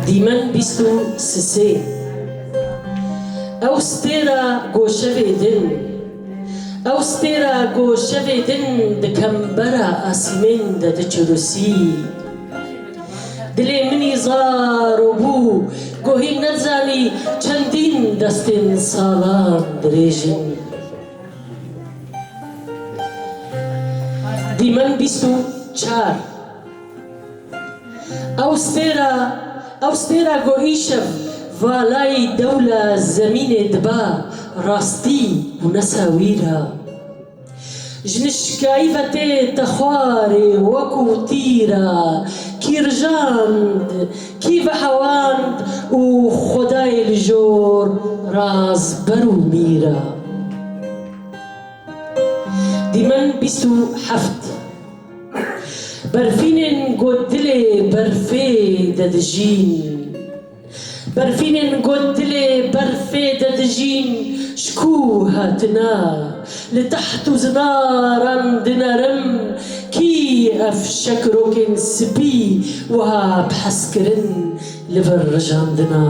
Dîmen bîst û sisê. Ew stêra goşevê din. Ew stêra goşevê din di kembera asîmên de diçirûsî. Dilê min î zar û bû gohî nezanî çendîn destên salan dirêj in. Dîmen bîst û çar. Ew stêra, ew stêra ku îşev valayî dewla zemînê diba rastî û nesa wî ra. Ji nişkayî ve tê te xwarê wekû tîra kî rijand, kî vehewand û xwedayê li jor raz ber û mîra. Dîmen bîst û heft. Berfînên ku dilê berfê de dijîn Berfînên ku dilê berfê de dijîn Ji ku hatine li teht û zinaran dinerim Kî ev şekrokên spî wiha bi hezkirin li vir rijandine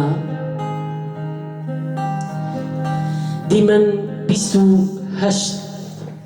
Dîmen bîst û heşt.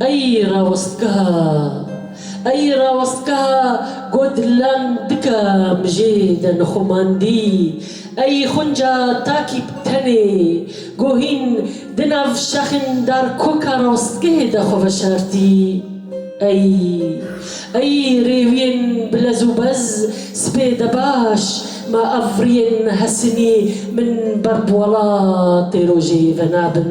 Ey rawestgeha, ey rawestgeha got lan dika mijê de nixumandî, ey xunca takî bi tenê ku hîn di nav şexên dar koka rawestgehê de xwe veşartî, ey, ey rêwiyên bi lez û bez sibê de baş ma avriyên Hesinî min ber bi welatê rojê venabin.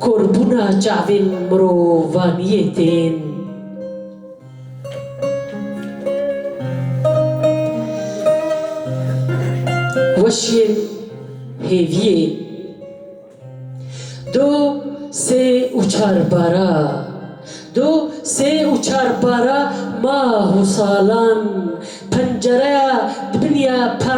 Korbûna çavên mirovaniyê tên. Weşiyên hêviyê do sê û çar bara Do sê û çar bara mah û salan Pencereya dibiniya pa